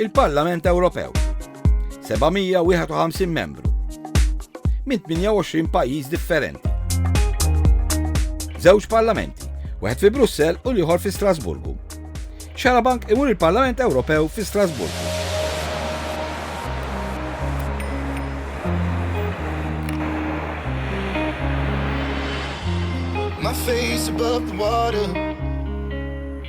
Il-Parlament Ewropew 751 membru minn 28 pajjiż differenti. Żewġ parlamenti, wieħed fi Brussell u l-ieħor fi Strasburgu. Xarabank imur il-Parlament Ewropew fi Strasburgu. My face above the water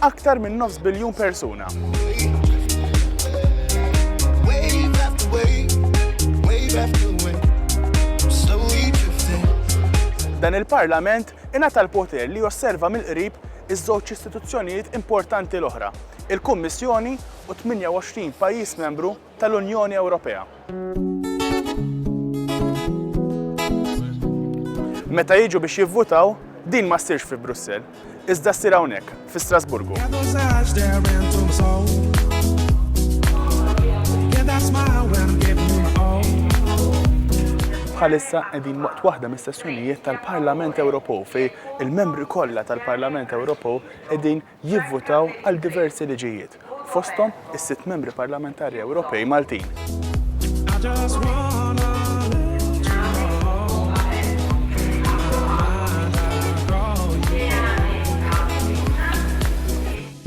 aktar minn nofs biljun persuna. Dan il-Parlament ingħata l-poter li josserva mill-qrib iż-żewġ istituzzjonijiet importanti l-oħra, il-Kummissjoni u 28 pajjiż membru tal-Unjoni Ewropea. Meta jiġu biex jivvutaw, din ma ssirx fi Brussell, iżda ssir hawnhekk, fi Strasburgu. bħalissa qegħdin waqt waħda mis-sessjonijiet tal-Parlament Ewropew fej il-membri kollha tal-Parlament Ewropew qegħdin jivvutaw għal diversi liġijiet, fosthom is-sitt Membri Parlamentari Ewropej Maltin.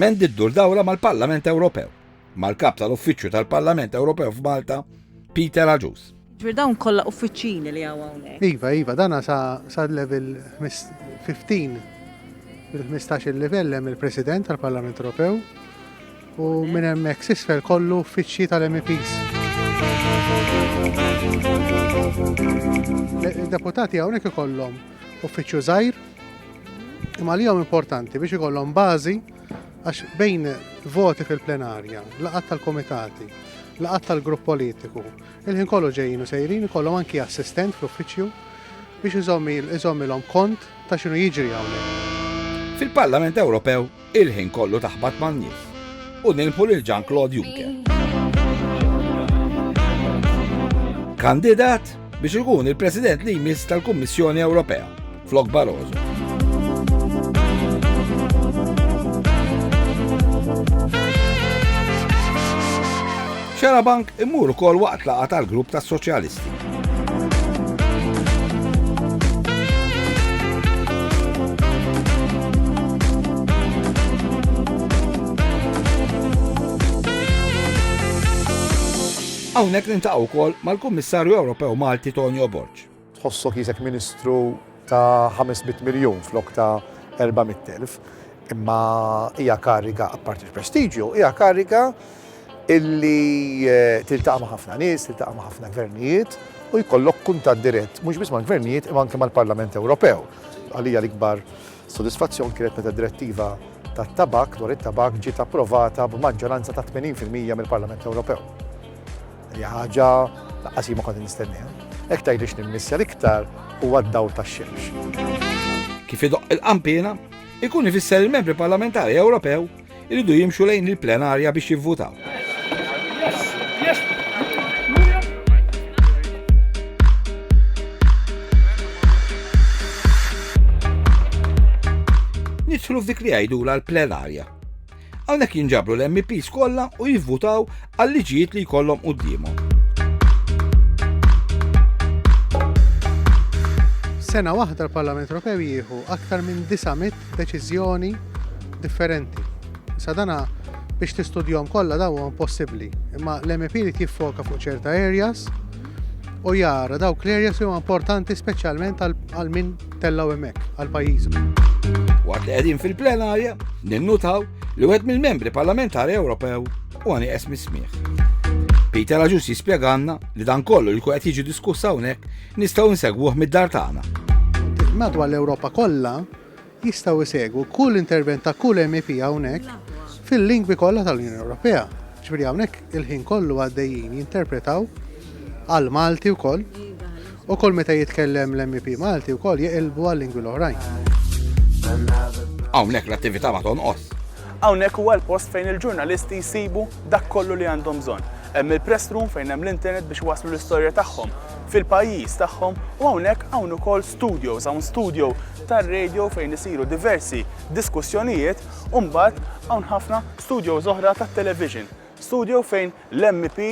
Mendy ddur dawra mal-Parlament Ewropew. mal-Kap tal-Uffiċċju tal-Parlament Ewropew f'Malta, Peter Agius. Ġifier dawn kollha uffiċċini li hawn hawnhekk. Iva, iva, dana sa, sa level 15 il-15 il-livell hemm il-President tal-Parlament Ewropew u minn hemmhekk sisfel kollu uffiċċji tal-MEPs. Deputati hawnhekk ikollhom uffiċċju żgħir imma li importanti biex ikollhom bażi Għax bejn voti fil-plenarja, laqat tal-komitati, laqat tal-grupp politiku, il-ħin kollu ġejjin u sejrin ikollhom anki assistent fl-uffiċċju biex iżommilhom kont ta' xinu jiġri hawnhekk. Fil-Parlament Ewropew il-ħin kollu taħbat man-nies u nilħu lil Jean Claude Juncker. Kandidat biex ikun il-President li jmiss tal-Kummissjoni Ewropea Flok Barroso. Xarabank imur ukoll waqt laqa tal-grupp tas-Soċjalisti. Hawnhekk nintaqgħu wkoll mal-Kummissarju Ewropew Malti Tonio Borg. Tħossok qisek ministru ta' 500 miljun flok ta' 400,000, imma hija kariga, apparti l-prestiġju, hija kariga illi tiltaqa' ma' ħafna nies, tiltaqa' ma' ħafna gvernijiet u jkollok kuntatt dirett mhux biss mal-gvernijiet imma anke mal-Parlament Ewropew. Għalija l-ikbar sodisfazzjon kienet meta d-direttiva tat-tabakk dwar it-tabakk ġiet approvata b'maġġoranza ta' 80 fil-mija mill-Parlament Ewropew. Hija ħaġa laqqas ma kont nistenniha. Hekk tgħidlix nimmissja l-iktar huwa d-dawl tax-xemx. Kif idoq il-qampina, ikun ifisser il-membri parlamentari Ewropew iridu jimxu lejn il-plenarja biex jivvutaw. Nidħlu f'dik li għajdu l-plenarja. Hawnhekk jinġabru l-MEPs kollha u jivvutaw għal liġijiet li jkollhom quddiemhom. Sena waħda l-Parlament Ewropew jieħu aktar minn 900 deċiżjoni differenti. Sadana biex tistudjom kollha daw huwa impossibbli, imma l-MEP li jiffoka fuq ċerta areas u jara dawk l-areas huma importanti speċjalment għal min tellgħu hemmhekk għal pajjiżu. Waqt li qegħdin fil-plenarja, ninnutaw li wieħed mill-membri parlamentari Ewropew u għani esmi smieħ. Peter Aġus jispjeganna li dan kollu li qed jiġi diskussa hawnhekk nistgħu nsegwuh mid-dar tagħna. Madwar l-Ewropa kollha jistgħu jsegwu kull intervent ta' kull MEP hawnhekk fil-lingwi kollha tal-Unjoni Ewropea. Ġifieri hawnhekk il-ħin kollu għaddejjin jinterpretaw għal Malti wkoll Ukoll meta jitkellem l-MEP Malti wkoll jeqilbu għal-lingwi l-oħrajn. Hawnhekk l-attività ma tonqos. Hawnhekk huwa l-post fejn il-ġurnalisti jsibu dak kollu li għandhom bżonn. Hemm il-press room fejn hemm l-internet biex iwasslu l-istorja tagħhom fil-pajjiż tagħhom u hawnhekk hawn ukoll studios, hawn studio tar-radio fejn isiru diversi diskussjonijiet u mbagħad hawn ħafna studios oħra tat-television. Studio fejn l-MP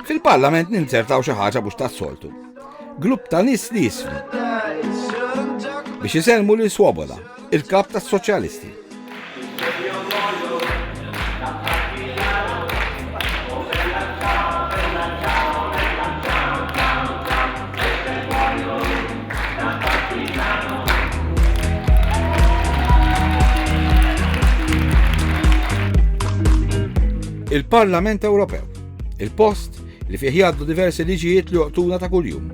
Fil-Parlament ninzertaw xi ħaġa mhux tas-soltu. Grupp ta' nies li jisfnu. Biex iselmu li Swoboda, il-kap tas-Soċjalisti. il-Parlament Ewropew. Il-post li fih jgħaddu diversi liġijiet li joqtuna ta' kuljum.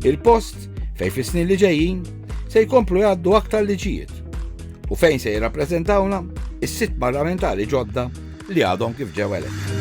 Il-post fejn fis-snin li ġejjin se jkomplu jgħaddu aktar liġijiet u fejn se jirrappreżentawna is-sitt parlamentari ġodda li għadhom kif ġew eletti.